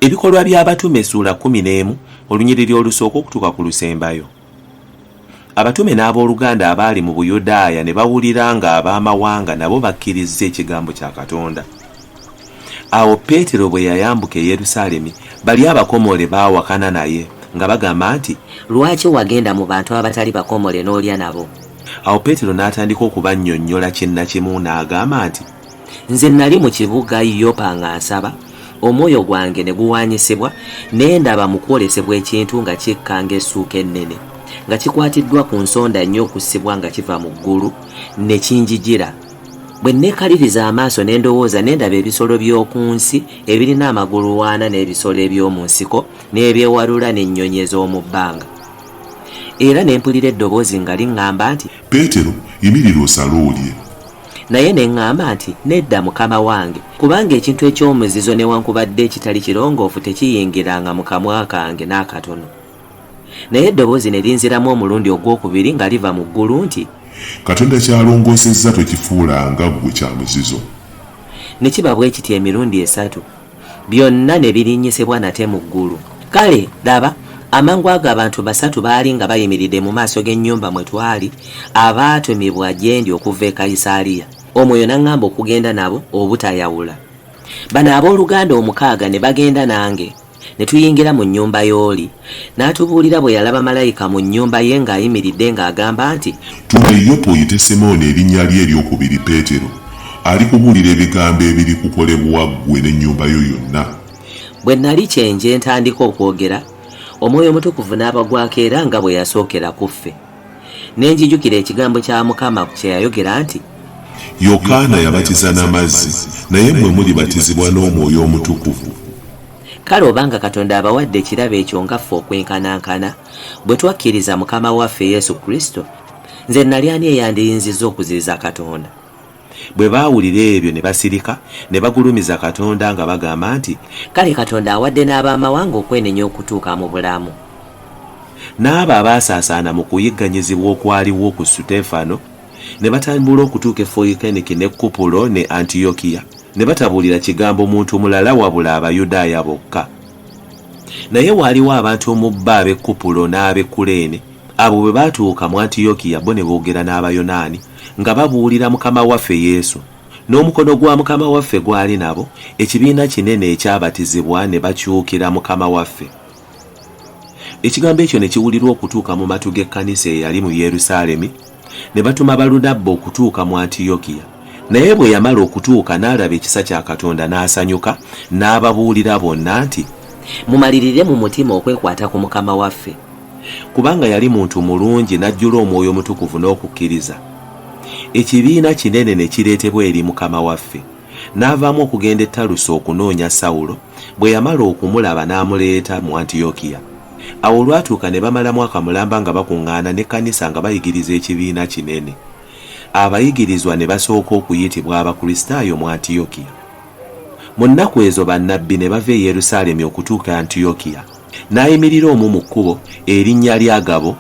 ebikolwa by'abatume essuula kkumi n'emu olunyiriri olusooka okutuuka ku lusembayo abatume n'ab'oluganda abaali mu buyudaaya ne bawulira ng'ab'amawanga nabo bakkirizza ekigambo kya katonda awo peetero bwe yayambuka e yerusaalemi bali abakomole baawakana naye nga bagamba nti lwaki wagenda mu bantu abatali bakomole n'olya nabo Awo Peetero n'atandika okubannyonnyola kinnakimu n'agamba nti. Nze nnali mu kibuga Yopa nga nsaba, omwoyo gwange ne guwaanyisibwa, ne ndaba mu kwolesebwa ekintu nga kikka ng'essuuka ennene, nga kikwatiddwa ku nsonda nnya okussibwa nga kiva mu ggulu, ne kinjijira. Bwe nneekaliriza amaaso ne ndowooza, ne ndaba ebisolo by'oku nsi ebirina amagulu ana n'ebisolo eby'omu nsiko n'ebyewalula n'ennyonyi ez'omu bbanga. Era ne mpulira eddoboozi nga liŋŋamba nti. Peetero, yimirira osale olye. Naye ne ŋŋamba nti, Nedda, Mukama wange, kubanga ekintu eky'omuzizo newankubadde ekitali kirongoofu tekiyingiranga mu kamwa kange n'akatono. Naye eddoboozi ne linziramu omulundi ogw'okubiri nga liva mu ggulu nti. Katonda ky'alongoosezza tokifuulanga ggwe kya muzizo. Ne kiba bwe kityo emirundi esatu. byonna ne birinnyisibwa nate mu ggulu. Kale, laba, amangu ago abantu basatu baali nga bayimiridde mu maaso g'ennyumba mwe twali, abaatumibwa gye ndi okuva e Kayisaaliya. Omwoyo n'aŋŋamba okugenda nabo obutayawula. Bano abooluganda omukaaga ne bagenda nange, ne tuyingira mu nnyumba y'oli, N'atubuulira bwe yalaba malayika mu nnyumba ye ng'ayimiridde ng'agamba nti. Tuma e Yopa oyite Simooni erinnya lye ery'okubiri Peetero, alikubuulira ebigambo ebirikukolebwa ggwe n'ennyumba yo yonna. Bwe nnali kye nje ntandika okwogera, Omwoyo Omutukuvu n'abagwako era nga bwe yasookera ku ffe. Ne njijukira ekigambo kya Mukama kye yayogera nti. Yokaana yabatiza na mazzi, naye mmwe mulibatizibwa n'Omwoyo Omutukuvu. Kale obanga Katonda abawadde ekirabo ekyo nga ffe okwenkanankana, bwe twakkiriza Mukama waffe Yesu Kristo, nze nnali ani eyandiyinzizza okuziyiza Katonda? Bwe baawulira ebyo ne basirika, ne bagulumiza Katonda nga bagamba nti. Kale Katonda awadde n'ab'amawanga okwenenya okutuuka mu bulamu. N'abo abaasaasaana mu kuyigganyizibwa okwaliwo ku Suteefano, ne batambula okutuuka e Foyikeniki ne Kupulo ne Antiyokiya. ne batabuulira kigambo muntu mulala wabula Abayudaaya bokka. Naye waaliwo abantu mu bo ab'e Kupulo n'ab'e Kuleene, abo bwe baatuuka mu Antiyokiya bo ne boogera n'Abayonaani, nga babuulira Mukama waffe Yesu. N'omukono gwa Mukama waffe gwali nabo, ekibiina kinene ekyabatizibwa ne bakyukira Mukama waffe. Ekigambo ekyo ne kiwulirwa okutuuka mu matu g'ekkanisa eyali mu Yerusaalemi, ne batuma Balunabba okutuuka mu Antiyokiya. Naye bwe yamala okutuuka n'alaba ekisa kya Katonda n'asanyuka, n'ababuulira bonna nti, Mumalirire mu mutima okwekwata ku Mukama waffe. Kubanga yali muntu mulungi n'ajjula Omwoyo Omutukuvu n'okukkiriza, ekibiina kinene ne kireetebwa eri Mukama waffe. N'avaamu okugenda e Taluso okunoonya Sawulo, bwe yamala okumulaba n'amuleeta mu Antiyokiya. Awo olwatuuka ne bamala mwaka mulamba nga bakuŋŋaana n'ekkanisa nga bayigiriza ekibiina kinene. Abayigirizwa ne basooka okuyitibwa Abakristaayo mu Antiyokiya. Mu nnaku ezo bannabbi ne bava e Yerusaalemi okutuuka e Antiyokiya. N'ayimirira omu mu kkubo, erinnya lye Agabo,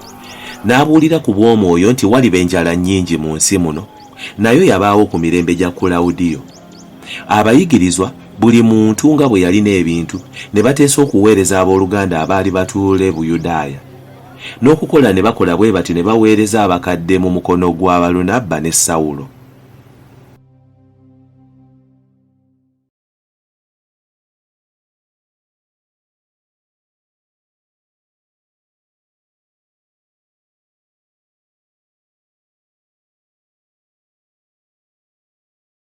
n'abuulira ku bw'Omwoyo nti waliba enjala nnyingi mu nsi muno, nayo yabaawo ku mirembe gya Kulawudiyo. Abayigirizwa, buli muntu nga bwe yalina ebintu, ne bateesa okuweereza ab'oluganda abaali batuula e Buyudaaya. N'okukola ne bakola bwe batyo ne baweereza abakadde mu mukono gwa Balunabba ne Sawulo.